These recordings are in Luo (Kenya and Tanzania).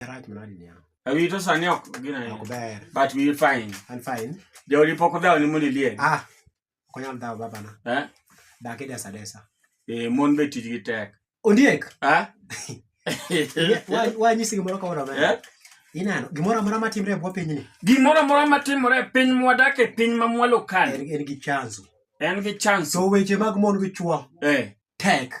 Rach manadi niya. Awi to sani ok gina ni. Ok ber. But we fine. And fine. Jodi poko dawo ni muni liye. Ah. Konyam dawo baba na. Eh? Dake desa desa. Eh, mon be tij gi tek. Ondiek. Ah. Wa wa nyisi gimoro ka ora ber. Eh? Inano, gimoro amora matimre e bwo piny ni. Gimoro amora matimre e piny mwadak e piny ma mwalo kan. En, en gi chanzo. En gi chanzo. So weche mag mon gi chwo. Eh. Tek.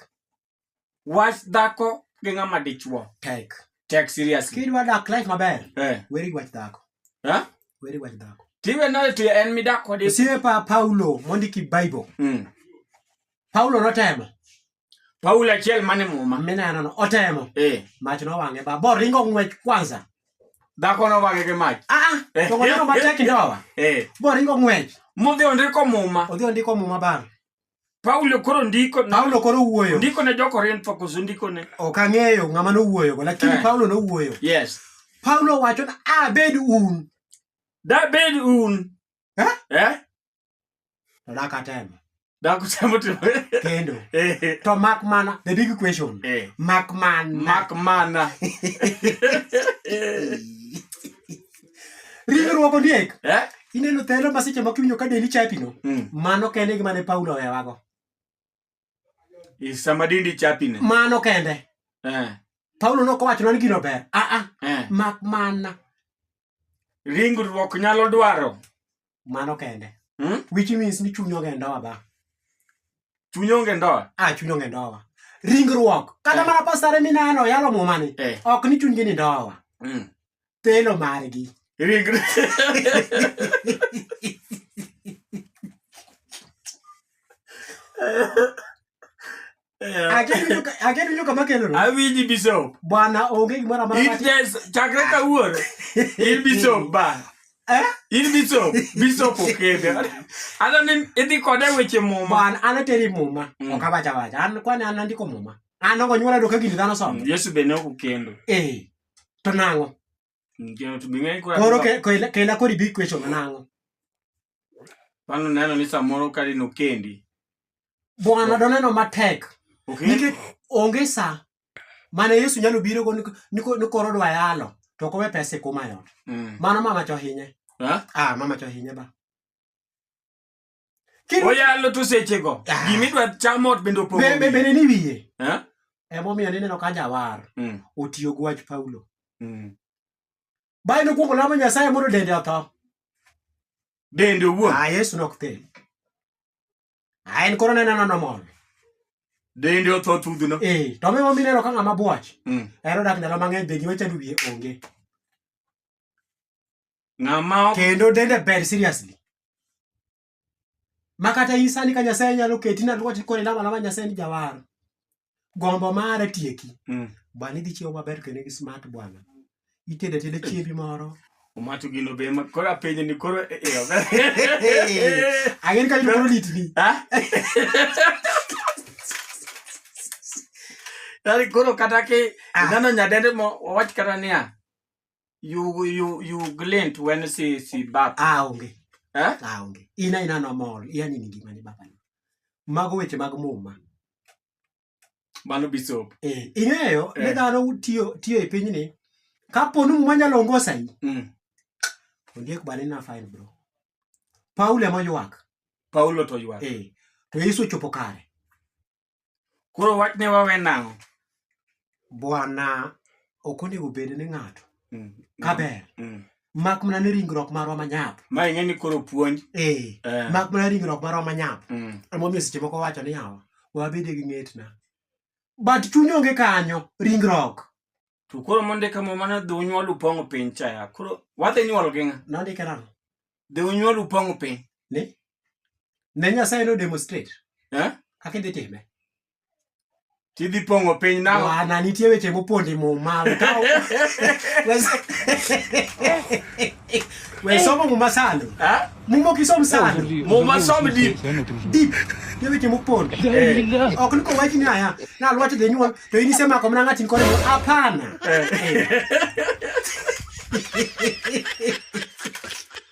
wach dhako gi ng'ama dichuo tek tek seriously kidwa dak life maber eh weri wach dhako ha eh? weri wach dhako tiwe no to en midak kod sie pa paulo mondiki bible mm. paulo notemo paulo achiel mane muma mineno no otemo eh mach no wange ba bor ringo ngwech kwanza dhako no wange ke mach ah, ah eh. to ngwech no matek ndowa eh bor ringo ngwech mudhi ondiko muma odhi ondiko muma bang Paulo koro ndiko Paulo koro wuoyo. Ndiko ne jo-Korintho koso ndiko ne? Ok ang'eyo ng'ama nowuoyogo lakini eh. Paulo nowuoyo. Yes. Paulo wacho na abed un. Dabed un. Eh? Eh? To dakatemo. Dakutemo to. Kendo. Eh. To mak mana the big question. Eh. Mak mana. Mak mana. Riwruok ondiek. Eh? Ineno thelo ma seche moko iwinjo ka deli chapino. Mm. Mano kende e gima ne Paulo owewago. Sama dindi chapine. Mano kende. Eh. Paulo ne ok owacho nani gino ber. Ah ah. Eh. Mak mana. Ringruok nyalo dwaro mano kende hmm? which means ni chuny onge ndoa ba chuny onge ndoa ah chuny onge ndoa ringruok kata eh. mana pasare mineno yalo mumani eh. ok ni chunygi ni ndoa mm. telo margi ringruok aketucho kama keloro awinji bishop bwana onge gimoro amora in just chakre kawuono in bishop bana eh? in bishop bishop okende ano ni idhi kode weche muma bwana an ateri muma mm. ok awacha wacha an kwani an andiko muma an ok onyuola doka gini dhano somo mm, yesu bende ok okendo eh to nang'o Ndio tubing'e kwa. Koro ke kela kela kori bi kwecho manango. Pano neno ni samoro kali no kendi. Bwana doneno matek. Okay. Nikech onge saa mane Yesu nyalo biro go ni koro dwa yalo to kowe pesa kuma yot. Mm. Mano mama cho hinye. Ha? Ah, mama cho hinye ba. oyalo to sechego ah. gima idwa chamo ot bende opogobende ni wiye eh? emomiyo nineno ka jawar mm. otiyo gi wach paulo mm. bae nokwongo lamo nyasaye mondo dende otho dende owuon ah, yesu nok thel ah, en koro neneno nomol dende otho thudhno ee eh, to miwa mineno ka ng'ama bwach mm. ero dak ndalo mang'eny be gima chando wiye onge Ng'ama kendo dende ber seriously. Makata in sani ka Nyasaye nyalo keti na lwati kore lama lama Nyasaye ni jawar. Gombo mare tieki. Mm. Bani dhi chiwo maber kendo gi smart bwana. Itede tede chiebi moro. Umacho gino be ma kora penye ni koro e e. Agin ka yudo koro litni. Ha? Dari koro kata ki ah. nano nyadende mo wach kata niya. you you you glint when you see see baba ah onge eh ah onge ina ina no mol yani ni gima ni baba ni mago weche mag muma mano bisop eh ing'eyo eh. ne dhano tiyo tiyo e piny ni kapo ni muma nyalo ongosa yi mm. ondiek bane na fine bro paulo ema ywak paulo to ywak eh to yesu chopo kare koro wach ne wawe nang'o bwana ok onego bed ni ng'ato mm. kaber mm. mak mana ni ringruok marwa manyap ma ing'e ni koro puonj ee eh. mak mana ringruok marwa manyap mm. emomiyo seche moko wacho ni yawa wabede gi ng'etna but chuny onge kanyo ringruok to koro mondika muma ni dhi unyuol upong'o piny chaya koro wadhi nyuol gi ng'a nondike nang'o dhi unyuol upong'o piny ni ne nyasaye no demonstrate eh? kaka idhi time tidhi pong'o piny nang'o ana nitie weche mopondi muma we somo muma sano eh? muma ok isom sano muma som deep deep nitie weche mopondi eh. ok ni kowach ni aya nalwach dhi nyuol To inisema kwa mna ngati nkole hapana. Eh.